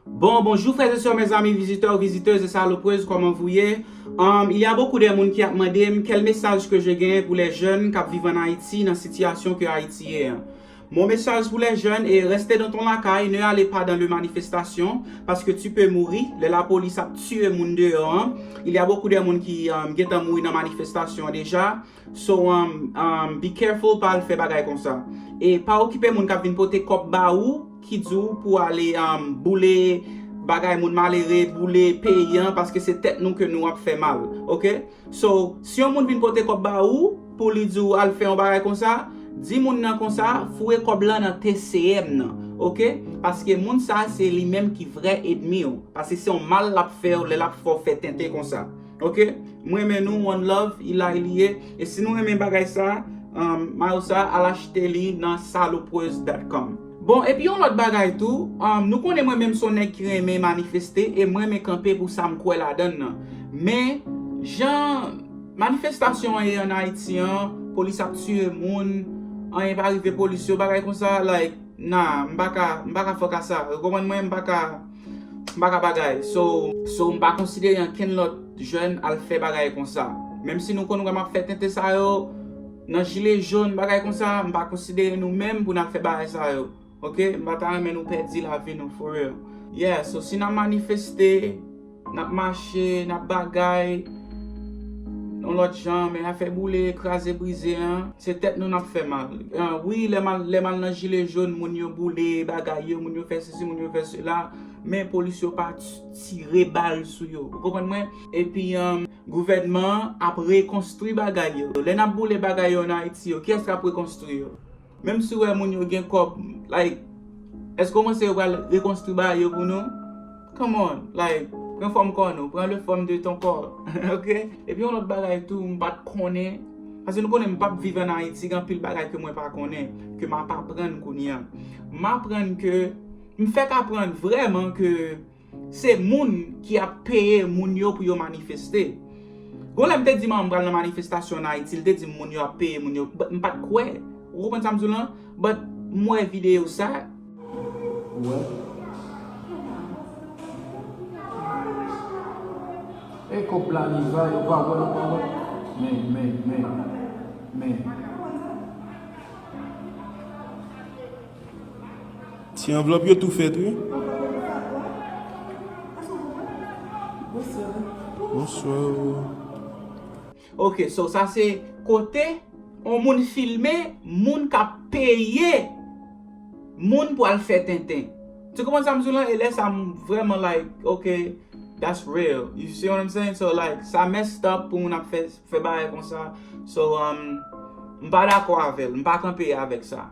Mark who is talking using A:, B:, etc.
A: Bon bonjou frèz e sè mèzami vizitè ou vizitez e saloprez kòman vou ye um ilya bokou dè moun ki ap mandem kèl mesaj ke je gen pou lè jèn kap viv an ayiti nan sitiyasyon ke ayiti ye an mon mesaj pou lè jèn e rèste dan ton lakay ne ale pa dan le manifestasyon paske tu pe mouri lè la polis ap tiye moun deyò an ilya bokou dè moun ki um gentan mouri nan manifestasyon deja So umm be careful pa al fè bagay konsa. E pa okipe moun kap vin pote kòb ba ou ki di w pou ale umm boule bagay moun malere, boule peyi an paske se tèt nou ke nou ap fè mal ok. So si yon moun vin pote kòb ba ou pou li di w al fè yon bagay konsa, di moun nan konsa foure kòb lan nan TCM nan ok paske moun sa se li menm ki vrè edmi w paske se yon mal lap fè w lè lap fè w fè tenten konsa. Ok m renmen nou one love ilay li ye e si nou renmen bagay sa mayo sa al achte li nan salopreuse dat kòm. Bon epi yon lòt bagay tou nou konnen mwen menm son nèg ki renmen manifeste e m renmen kanpe pou sa m kwè ladann nan men jan manifestasyon an ye an ayiti an polis ap tiye moun anyen pa rive polis yo bagay konsa like nan m paka fòk a sa ou konprann mwen m paka M pa ka bagay so. So m pa konsidere ankenn lòt jèn al fè bagay konsa. Menm si nou konn wè m ap fè tenten sa yo nan jile jòn bagay konsa, m pa konsidere nou menm pou n al fè bagay sa yo ok. M pa ta renmen nou pèdi lavi nou for real. Yeah so si n ap manifeste, n ap mache, n ap bagay yon lòt jan men afè boule, kraze, brize an, se tèt nou n ap fè mal. Wi lè m al nan jile jòn moun yo boule bagay yo, moun yo fè. si moun yo fè sela, men polis yo pa tire bal sou yo. Ou konprann mwen? Epi gouvènman an ap rekonstwi bagay yo. Lè n ap boule bagay yo ann Ayiti yo, kiyès k ap rekonstwi yo? Menm si w wè moun yo gen kòb, like, èske w panse yo pral rekonstwi bagay yo pou nou? Come on! Like, pran fòm kò nou, prends le forme de ton corps, ok? Epi yon lòt bagay tou m pa t konnen. Paske nou konnen m pap viv an Ayiti, gen anpil bagay ke mwen pa konnen, ke m ap aprann kounye an. M aprann ke, m fèk aprann vrèman ke se moun ki ap peye moun yo pou yo manifeste. Gon lè m te di manman m pral nan manifestasyon an Ayiti, li te di m moun yo ap peye moun yo, but m pat kwè. Ou konprann sa m di w lan? But m wè videyo sa.
B: Ti anvlòp yo tou fèt wi. Bonsoir.
A: Ok so sa se kote on moun filme moun kap peye moun pou al fè tenten tu konprann sa m di w lan e lè sa m vrèman like ok that's real you see what I'm saying so like sa messed up pou moun ap fè bagay konsa so m pa dakò avè l m pa kanpe avèk sa.